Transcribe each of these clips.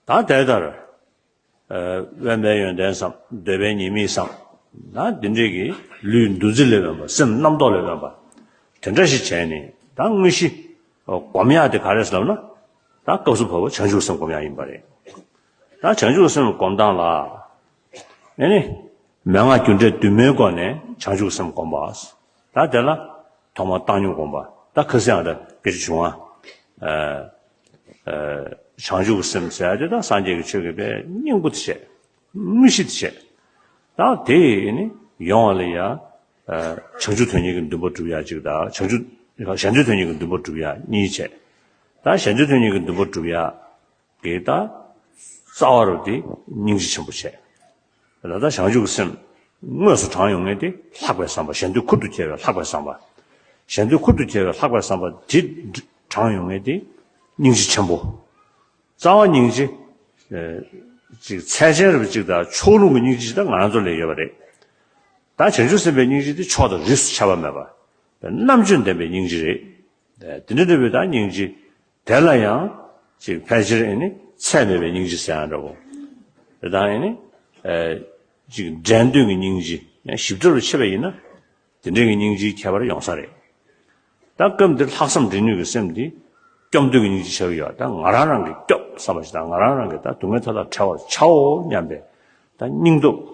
དང་དེ་ལྟར། དབེན་པའི་ཡོན་ཏན་བསམ། འདོད་པའི་ཉེས་དམིགས་བསམ། ད་འདི་འདྲས་ཀྱི། ལུས་འདུ་འཛི་ལས་དབེན་པ་སེམས་རྣམ་རྟོག་ལས་དབེན་པ། དེ་འདྲ་ཞིག་བྱས་ནས་ད་དངོས་གཞི། སྒོམ་ཡག་དེ་ག་རེ་ལབ་ན། ད་སྐབས་སུ་བབ་བོ་བྱང་ཆུབ་སེམས་སྒོམ་ཡག་ཡིན་པ་རེད། ད་བྱང་ཆུབ་སེམས་སྒོམ་སྟངས་ལ། ནས་ནི། མན་ངག་རྒྱུ་འབྲས་བདུན་མའི་སྒོ་ནས་བྱང་ཆུབ་སེམས་བསྒོམ་པ། ད་དེ་ལ། ཐོག་མར་བཏང་སྙོམས་བསྒོམ་པ། ད་ཁ་སིའང་ད་ཀིར་བྱུང་ང། བྱང་ཆུབ་སེམས་ཟད་དེ་ད་སངས་རྒྱས་ཀྱི་ཆོས་ཀྱི་དཔལ་སྙིང་པོ་དེ་བྱེད། དངོས་གཞི་དེ་བྱེད། ད་དེ་ནི་ཡོང་བ་ལ་ཡང། བྱང་ཆུབ་དོན་གཉིས་ཀྱི་འདུན་པ་བསྒྲུབ་ཡ་གཅིག་ད། བྱང་ཆུབ། གཞན་དོན་གཉིས་ཀྱི་འདུན་པ་བསྒྲུབ་ཡ་གཉིས་བྱེད། ད་གཞན་དོན་གཉིས་ཀྱི་འདུན་པ་བསྒྲུབ་ཡ། དེ་ལྟར་རྩ་བ་རུ་དེ་སྙིང་རྗེ་ཆེན་པོ་བྱས། ད་ལྟ་བྱང་ཆུབ་ཀྱི་སེམས་དངོས་སུ་དྲངས་ཡོང་ངེས་ཏེ་ལྷག་པའི་བསམ་པ་གཞན་དོན་ཁུར་དུ་འཁྱེར་བའི་ལྷག་པའི་བསམ་པ། གཞན་དོན་ཁུར་དུ་འཁྱེར་བའི་ལྷག་པའི་བསམ་པ་དེ་དྲངས་ཡོང་ངེས་ཏེ་སྙིང་རྗེ་ཆེན་པོ། རྩ་བ་སྙིང་རྗེ། ཅིག་ཚད་ཅན་རབ་ཅིག་དང་ཕྱོགས་ལྷུང་གི་སྙིང་རྗེ་ཅིག་དང་ང་ཚོ་ལས་ཡོད་པ་རེད། ད་བྱང་ཆུབ་སེམས་དཔའི་སྙིང་རྗེ་དེ་ཕྱོགས་དང་རིས་སུ་ཆ་བ་མེད་པ། རྣམ་དཔྱོད་ལྡན་པའི་སྙིང་རྗེ་རེད། དེ་འདྲ་ནུས་པའི་དང་སྙིང་རྗེ་དེ་ལ་ཡང་ཅིག་ཕལ་ཆེར་ཨེ་ནི་ཚད་མེད་པའི་སྙིང་རྗེ་ཟེར་ཡང་འདྲ་བོ། དེ་དང་ཨེ་ནི། ཅིག་འདྲེན་འདོད་ཀྱི་སྙིང་རྗེ་ཡང་ཞིབ་ཕྲ་རུ་ཕྱེ་བ་ཡིན་ན། དེ་འདྲེན་གྱི་སྙིང་རྗེའི་ཁྱད་པར་ཡོང་ས་རེད། ད་སྐབས་འདིར་ལྷག་བསམ་འདྲེན་ནུས་ཀྱི་སེམས་དེ། སྐྱོབ་འདོད་ཀྱི་སྙིང་རྗེ་ཆགས་ཀྱི་ཡོད་ད་ང་རང་རང་གིས་སྐྱོབ་བསམ་པ་ཞིག་དང་ང་རང་རང་གིས་ད་སྡུག་བསྔལ་མཐའ་དག་བྲལ་བར་བྱའོ་སྙམ་པའི་ད་སྙིང་སྟོབས།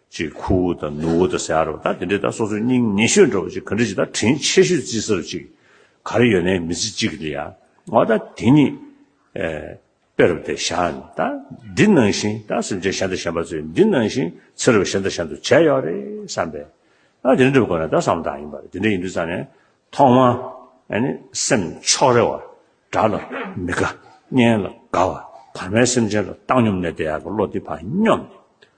ཅེས་ཁུ་བོ་དང་ནུ་བོ་དང་ཟེར་བ་དང་དེ་འདྲས་ད་སོ་སོའི་སྙིང་ཉེ་ཤོས་འགྲོ་བ་ཅིག་ག་འདྲས་ཅིག་ད་དྲིན་ཆེ་ཤོས་བརྩི་ས་རུ་ཅིག་ག་རེ་ཡོད་ནའི་མི་ཚེ་གཅིག་གི་ཡ་ང་བ་ད་དེ་ཉིད་དཔེ་རུ་དེ་བཞག་ནས་ད་འདི་ནང་བཞིན་ད་སེམས་ཅན་གཞན་དང་གཞན་པ་ཚོས་འདི་ནང་བཞིན་ཚེ་རབས་གཞན་དང་གཞན་དུ་བྱས་ཡོད་རེད་བསམ་པས་ད་དེ་འདྲས་འགྲུབ་དགོས་ན་ད་བསམ་བློ་དག་ཡིན་པ་རེད་དེ་འདྲས་ཡིན་དུས་བསམ་ནས་ཐོག་མར་ནི་སེམས་ཕྱོགས་རེ་བ་དགྲ་ལ་མི་དགའ་གཉེན་ལ་དགའ་བ་བར་མའི་སེམས་ཅན་ལ་བཏང་སྙོམས་ནས་དེ་ཡག་གི་བློ་འདི་བར་སྙོམས་ནས།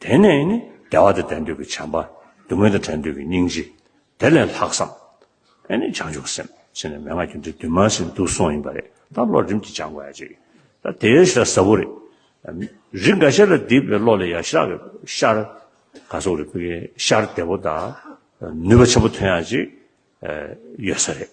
དེ་ནས་ནི་བདེ་བ་དང་ལྡན་འདོད་ཀྱི་བྱམས་པ། སྡུག་བསྔལ་དང་བྲལ་འདོད་ཀྱི་སྙིང་རྗེ། དེ་ལས་ལྷག་བསམ། ཨེ་ནི་བྱང་ཆུབ་སེམས། ཅེས་ནས་མན་ངག་རྒྱུད་འདི་བདུན་མ་ཟིན་དུ་སོང་ཡིན་པ་རེད། ད་བློ་རིམ་གྱིས་སྦྱང་དགོས་ཡ་ཅིག། ད་དེ་ཡོད་ཤག་ཟབ་བོ་རེད། རིགས་འགའ་ཤས་ལ་བསྡིགས་པའི་བློ་ལས་ཡ་ཤག་གི་ཤར། ག་སོགས་རིགས་པའི་ཤར་བདེ་བོ་དང། ནུས་པ་ཆེན་པོ་ཐོན་ཡ་ཅིག། ཡོད་ས་རེད།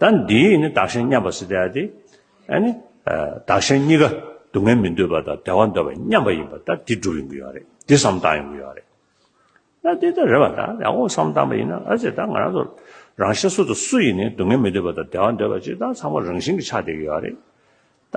ད་འདིའི་ཡིན་ནི་བདག་གཞན་མཉམ་པ་སྲིད་དེ་ཨ་ཏི། ཨ་ནི། བདག་གཞན་གཉིས་ཀ་སྡུག་བསྔལ་མི་འདོད་པ་དང་བདེ་བ་འདོད་པ་མཉམ་པ་ཡིན་པ་ད་འདི་སྒྲུབ་ཡོང་གི་ཡོད་རེད་འདི་བསམ་བཏང་ཡོང་གི་ཡོད་རེད། ད་འདི་ད་རེད་བ་ད་ཡག་པོ་བསམ་བཏང་པ་ཡིན་ན་ཨ་ཙི་ད་ང་རང་ཚོ་རང་ཤ་སུ་དང་སུ་ཡིན་ནི་སྡུག་བསྔལ་མི་འདོད་པ་དང་བདེ་བ་འདོད་པ་ཅིག་ད་ཚང་མ་རང་བཞིན་གྱི་ཆགས་བསྡད་ཀྱི་ཡོད་རེད། ད།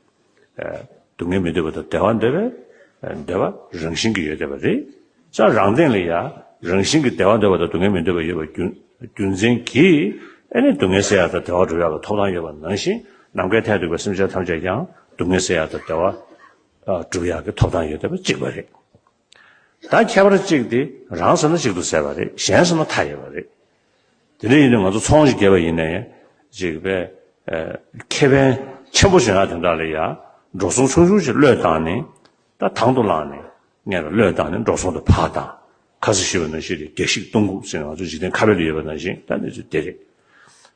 སྡུག་བསྔལ་མི་འདོད་པ་དང་བདེ་བ་འདོད་པས་བདེ་བ་རང་བཞིན་གྱིས་ཡོད་བསྡད་པ་རེད། སྤྱན་རང་སྟེང་ལ་ཡང་རང་བཞིན་གྱིས་བདེ་བ་འདོད་པ་དང་སྡུག་བསྔལ་མི་འདོད་པ་ཡོད་པ་རྒྱུ་མཚན་གྱིས་ཨེ་ནི་སྡུག་བསྔལ་སེལ་ཡག་དང་བདེ་བ་སྒྲུབ་ཡག་ལ་ཐོབ་ཐང་ཡོད་པ་ནང་བཞིན་ནམ་མཁའི་མཐས་གཏུགས་པའི་སེམས་ཅན་ཐམས་ཅད་ཀྱང་སྡུག་བསྔལ་སེལ་ཡག་དང་བདེ་བ་སྒྲུབ་ཡག་གི་ཐོབ་ཐང་ཡོད་བསྡད་པ་གཅིག་པ་རེད། ད་ཁྱད་པར་གཅིག་དེ་རང་ཟེར་ན་གཅིག་ཏུ་ཟད་པ་རེད་གཞན་ཟེར་ན་མཐའ་ཡས་པ་རེད། དེ་འདྲ་ཡིན་ན་ང་ཚོ་ཚོང་གཅིག་རྒྱལ་བ་ཡིན་ནའི་ཅིག་པས་ཁེ་ཕན་ཆེན་པོ་བྱུང་ཡག་དེ་འདྲ་ལ་ཡ་འགྲོ་སོང་ཆུང་ཆུང་ཞིག་བློས་བཏང་ནས་ད་དང་དུ་བླངས་ནས་ངས་ད་བློས་བཏང་ནས་འགྲོ་སོང་དུ་ཕག་དང་ཁ་ཟས་ཤི་བ་ནང་བཞིན་རེད་རྒྱ་ཤིག་གཏོང་དགོས་ཟེར་ན་ང་ཚོ་འཇིག་རྟེན་ཁ་བལ་དུ་ཡོད་པ་ནང་བཞིན་ད་གནས་ཚུལ་དེ་རེད།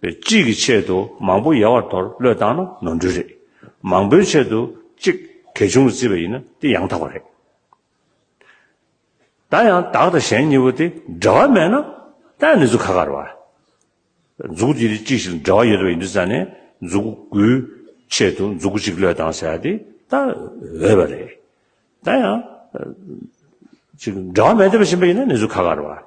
བའི་གཅིག་གི་ཆེད་དུ་མང་པོ་ཡལ་བར་དོར་བློས་བཏང་ན་ནོར་འཁྲུལ་རེད། མང་པོའི་ཆེད་དུ་གཅིག་གལ་ཆུང་ལ་བརྩི་བ་ཡིན་ན་དེ་ཡང་དག་པ་རེད། ད་ཡང་བདག་དང་གཞན་གཉིས་པོ་དེ་འབྲེལ་བ་མེད་ན་ད་ཡང་ནི་ཚུ་ག་ག་རུ་བ། མཛུག་གི་གཅིག་ཞིག་ལ་འབྲེལ་བ་ཡོད་དུ་བ་ཡིན་དུ་ས་ནས་མཛུག་གུའི་ཆེད་དུ་མཛུག་གུ་གཅིག་བློས་བཏང་ཟེར་བ་དེ་ད་འོས་པ་རེད། ད་ཡང་གཅིག་འབྲེལ་བ་མེད་དུ་བ་བཞིན་པ་ཡིན་ན་ནི་ཚུ་ག་ག་རུ་བ།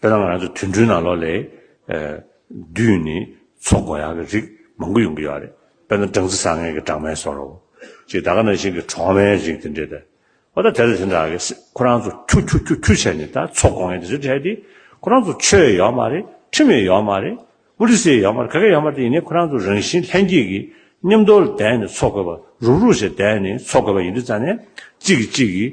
དཔེར་ན་ང་ཚོ་དུད་འགྲོའི་ནང་ལོགས་ལས། བདུད་ནི་ཚོགས་འགོ་ཡང་གི་རིགས་མང་པོ་ཡོང་གི་ཡོད་རེད། དཔེར་ན་སྦྲང་རྩི་བཟང་ངན་གྱི་སྦྲང་མའི་སོགས་ལོ། ཅེས་ད་ག་ནང་བཞིན་གྱི་གྲོག་མའི་རིགས་དེ་འདྲས་ཏེ། འོ་ད་དེ་ལ་དེ་འདྲ་གི་ཁོ་རང་ཚོ་ཁྱུ་ཁྱུ་ཁྱུ་ཁྱུ་བྱས་ནས་ད་ཚོགས་འགོ་ངན་དེ་ཚོ་བྱས་ཏེ། ཁོ་རང་ཚོ་ཆོས་ཡོད་མ་རེད་ཁྲིམས་ཡོད་ཡོད་མ་རེད། ཨོ་རི་སེ་ཡོད་མ་རེད་ག་གེ་ཡོད་མ་རེད་དེ་ཡིན་ནས་ཁོ་རང་ཚོ་རང་བཞིན་ལྷན་སྐྱེས་ཀྱི་ཉམས་རྟོགས་ལ་བསྡད་ནས་ཚོགས་དགོས་པ་རུག་རུག་བྱས་བསྡད་ནས་ཚོགས་དགོས་པ་ཡིན་དུས་ཙང་ནས་གཅིག་གིས་གཅིག་གིས་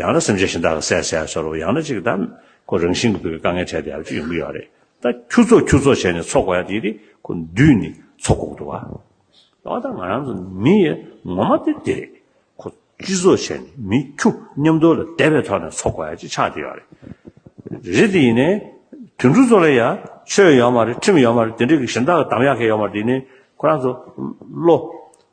ཡང་ན་སེམས་ཅན་གཞན་དག་གི་སའི་སའི་སོར་རོ་ཡང་ན་གཅིག་གདམས་ཁོ་རང་བཞིན་གྱི་བུ་གའི་དཀའ་ངལ་འཕྲད་དེ་ཡང་ཅི་ཡོང་གི་ཡོད་རེད་ད་ཁྱུ་ཚོགས་ཁྱུ་ཚོགས་བྱས་ནས་འཚོ་དགོས་ཡ་དེ་དེ་ཁོ་འདུས་ནས་འཚོ་དགོས་ཀྱི་འདུག་བ་ཨོ་ད་ང་རང་ཚོ་མི་ཡི་ངོ་མ་དེ་དེ་རེད་ཁོ་སྤྱི་ཚོགས་བྱས་ནས་མི་ཁྱུ་མཉམ་དུ་ལ་དད་པའི་ཐོག་ནས་འཚོ་དགོས་ཡ་ཅིག་ཆགས་དེ་ཡོད་རེད་རེད་དེ་ཡིན་ནས་དུད་འགྲོ་ཚོ་ལ་ཡ་ཆོས་ཡོད་མ་རེད་ཁྲིམས་ཡོད་མ་རེད་དེ་འདྲའི་གཞན་དག་གི་གདམས་ཡག་གི་ཡོད་མ་རེད་དེ་ཡིན་ནས་ཁོ་རང་ཚོ་བློ།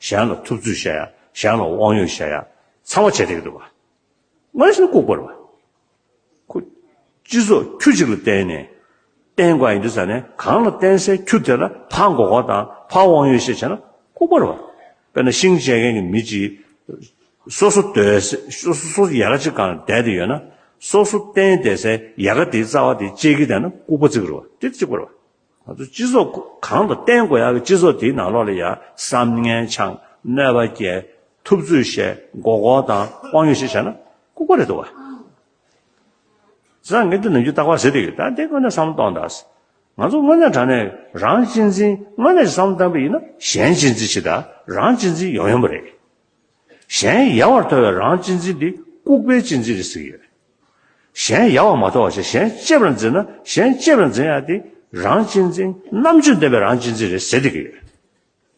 གཞན་ལ་ཐུབ་ཚོད་བྱ་ཡ། གཞན་ལ་དབང་ཡོད་བྱ་ཡ། ཚང་མ་བྱས་ཏེ་འདུག། མ་གཞི་ནི་ལྐུགས་པར་བ། ཁུ། སྤྱི་ཚོགས་ཁྱུ་གཅིག་ལ་བརྟེན་ནས། བརྟེན་དགོས་ཡིན་དུས་ས་གནས་གང་ལ་བརྟེན་སའི་ཁྱུ་དེ་ལ་ཕ་འགོ་བ་དང་ཕ་དབང་ཡོད་ཞེས་བྱས་ན་ལྐུགས་པར་བ། དཔེར་ན་ཤིང་བཅད་མཁན་གྱི་མི་གཅིག། སོ་སོ་སྡོད་སའི། སོ་སོ་ཡལ་ག་གཅིག་གང་བསྡད་དེ་ཡོད་ན། སོ་སོ་བརྟེན་བསྡད་སའི་ཡལ་ག་དེའི་རྩ་བ་དེ་བཅད་ཁྱི་བསྡད་ན་ལྐུགས་པ་གཙིགས་རུ་བ། དེ་གཅིག་པར་བ། ང་ཚོ་སྤྱི་ཚོགས་གང་དུ་བརྟེན་དགོས་ཡག་གི་སྤྱི་ཚོགས་དེའི་ནང་ལོགས་ལ་ཡང་བསམ་ངན་འཆང་གནོད་པ་བསྐྱལ་ཐུབ་ཚུལ་བཤད་མགོ་སྐོར་དང་དབང་ཡོད་ཞིག་བྱས་ན་ཀུ་ཀུ་རེད་འདུག་བ། བཟང་ངན་དུ་ནི་རྒྱུ་བརྟག་པ་ཟེར་དེ་ཡོད་ད་དེ་དངོས་གནས་བསམ་བློ་གཏོང་གདའ། ང་ཚོ་དངོས་གནས་དྲང་ནས་རང་གཅེས་འཛིན་དངོས་གནས་ཀྱི་བསམ་བློ་བཏང་པ་ཡིན་ན་གཞན་གཅེས་འཛིན་བྱེད་གདའ་རང་གཅེས་འཛིན་ཡོང་ཡོང་པ་རེད། གཞན་ཡལ་བར་དོར་བའི་རང་གཅེས་འཛིན་དེ་ལྐུགས་པའི་གཅེས་འཛིན་རེད་ཟེར་གྱི་ཡོད། གཞན་ཡལ་བར་མ་དོར་བ་ཞིག་གཞན་གཅེས་པར་འཛིན་ན་གཞན་གཅེས་པར་འཛིན་ཡག་དེ་རང་གཅེས་འཛིན་རྣམ་དཔྱོད་ལྡན་པའི་རང་གཅེས་འཛིན་རེད་ཟེར་སྡད་ཀྱི་ཡོད།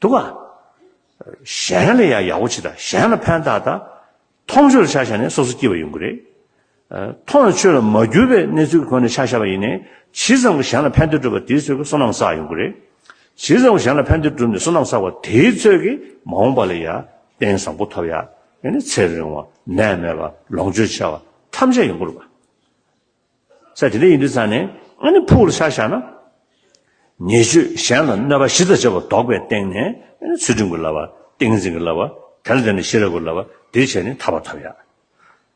འདུག་ག། གཞན་ལ་ཡང་ཡག་པོ་བྱེད་དང་གཞན་ལ་ཕན་གདགས་དང། མཐོང་ཆོས་ཆ་བཞག་ནས་སོ་སོ་སྐྱིད་པ་ཡོང་གི་རེད། མཐོང་ལ་ཆོས་ལ་མ་གྱུར་པའི་གནས་ཚུལ་གྱི་སྒོ་ནས་ཕྱག་བཞག་པ་ཡིན་ནས་ཇི་ཙམ་གྱིས་གཞན་ལ་ཕན་བདེ་སྒྲུབ་པ་དེའི་ཚོད་ཀྱིས་བསོད་ནམས་བསགས་ཡོང་གི་རེད། ཇི་ཙམ་གྱིས་གཞན་ལ་ཕན་བདེ་བསྒྲུབས་ནས་བསོད་ནམས་བསགས་པ་དེའི་ཚོད་ཀྱིས་མ་འོངས་པ་ལ་ཡང་རྟེན་བཟང་པོ་ཐོབ་ཡ། ཡང་ན་ཚེ་རིང་བ། ནད་མེད་པ། ལོངས་སྤྱོད་ཆེ་བ། ཐམས་ཅད་ཡོང་གི་རེད་པ། ས་དེ་འདྲ་ཡིན་དུས་ཚང་ནས་ཨ་ནི་ཕུག་ལ་ཕྱག་བཞག་ན། ཉེས་སྤྱོད་གཞན་ལ་གནོད་པ་བཞི་དང་བཅས་པ་བཟློག་པའི་སྟེང་ནས་ཚུལ་ཁྲིམས་ཀྱི་བསླབ་པ། ཏིང་འཛིན་གྱི་བསླབ་པ། དེ་ལ་བརྟེན་ནས་ཤེས་རབ་ཀྱི་བསླབ་པ་དེ་བྱས་ནས་ཐར་བ་ཐོབ་ཡ།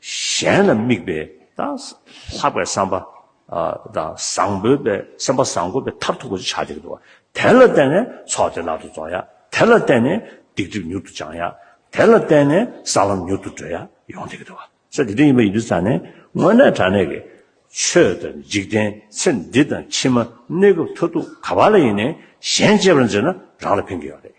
གཞན་ལ་དམིགས་པའི་དང། ལྷག་པའི་བསམ་པ། དང། བཟང་པོའི་པའི་སེམས་པ་བཟང་དགོས་པའི་མཐར་ཐུག་གོ་ཆ་དེ་འདུག་དེ་ལ་བརྟེན་ནས་ཚོགས་དེ་བརླག་ཏུ་རྫོགས་ཡ། དེ་ལ་བརྟེན་ནས་སྡིག་སྒྲིབ་མྱུར་དུ་སྦྱང་ཡ། དེ་ལ་བརྟེན་ནས་ས་ལམ་མྱུར་དུ་བགྲོད་ཡ་ཡོང་དེ་གི་འདུག་ས་དེ་འདྲ་ཡིན་པ་ཡིན་དུས་ས་ནས་དངོས་གནས་དྲ་གནས་ཀྱི་ཆོས་དང་འཇིག་རྟེན་ཚེ་འདི་དང་ཕྱི་མ་གནས་སྐབས་མཐར་ཐུག་ག་པ་ལ་ཡིན་ནས་གཞན་གཅེས་པར་མཛད་ན་རང་ལ་ཕན་གི་ཡོད་རེད།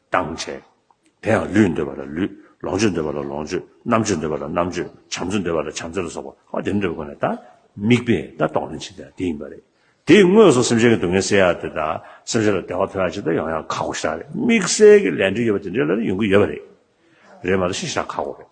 དང་བྲལ། དེ་ཡང་ལུས་འདོད་པ་ལ་ལུས། ལོངས་སྤྱོད་འདོད་པ་ལ་ལོངས་སྤྱོད། རྣམ་དཔྱོད་འདོད་པ་ལ་རྣམ་དཔྱོད། བྱམས་བརྩེ་འདོད་པ་ལ་བྱམས་བརྩེ་ལ་སོགས་པ་ཧོ་དེ་འདྲ་འདོད་པའི་སྒོ་ནས་ད། དམིགས་པས་ད་རྟོགས་ནི་ཇི་ལྟ་དེ་ཡིན་པ་རེད། དེ་ཡི་དངོས་སུ་སེམས་ཅན་གྱི་སྡུག་བསྔལ་སེལ་ཡག་དེ་ད། སེམས་ཅན་ལ་བདེ་བ་འཕེལ་ཡག་ཇི་ལྟར་ཡོང་ཡག་ཁག་གོ་ཞེ་དྲག་རེད། དམིགས་བསལ་གྱི་ལས་འབྲེལ་ཡོད་པ་དེ་འདྲའི་ལ་ཡོང་གི་ཡོད་པ་རེད། རེད་མ་གཏོགས་ཤི་ཞེ་དྲག་ཁག་གོ་རེད།